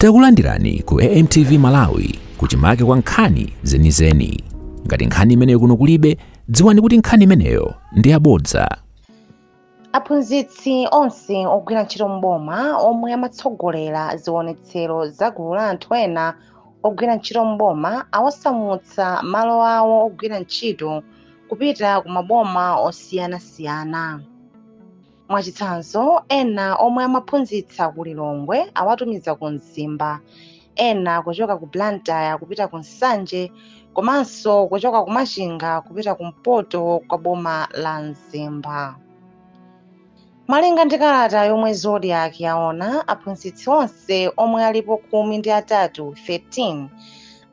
Takulandirani ku AMTV Malawi kuchimake kwa nkhani zenizeni. Ngati nkhani imeneyo kuno kulibe, dziwani kuti nkhani imeneyo ndi yabodza. aphunzitsi onse ogwira ntchito m'boma omwe amatsogolera zionetsero za gulu la anthu ena ogwira ntchito m'boma awasamutsa malo awo ogwira ntchito kupita ku maboma osiyanasiyana mwachitsanzo ena omwe amaphunzitsa ku lilongwe awatumiza ku mzimba ena kuchoka ku blantyre kupita ku nsanje komanso kuchoka ku machinga kupita ku mpoto kwa boma la mzimba malinga ndi kalata yomwe zodiak yaona aphunzitsi onse omwe alipo khumi ndi atatu 13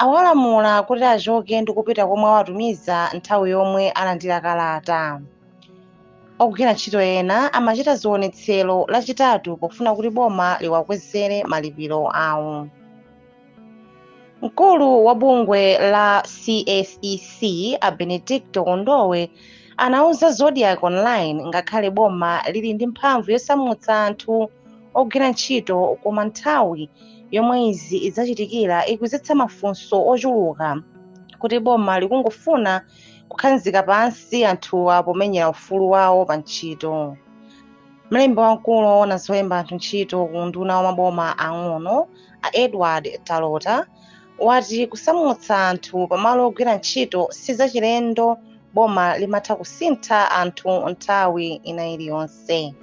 awalamula kuti achoke ndi kupita komwe awatumiza nthawi yomwe alandira kalata ogwira ntchito ena amachita zionetsero lachitatu pofuna kuti boma liwakwezere malipiro awo mkulu wa bungwe la CSEC a Benedicto Kondowe anauza Zodiak Online ngakhale boma lili ndi mphamvu yosamutsa anthu ogwira ntchito koma nthawi yomwe izi zachitikira ikudzetsa mafunso ochuluka kuti boma likungofuna kukhazika pansi anthuwa pomenyera ufulu wawo pa ntchito mlembi wamkulu woona zolemba anthu ntchito ku unduna wa maboma ang'ono a edward talota wati kusamutsa anthu pamalo ogwira ntchito si zachilendo boma limatha kusintha anthu nthawi ina iliyonse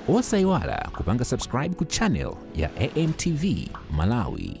osayiwala kupanga subscribe ku channel ya amtv malawi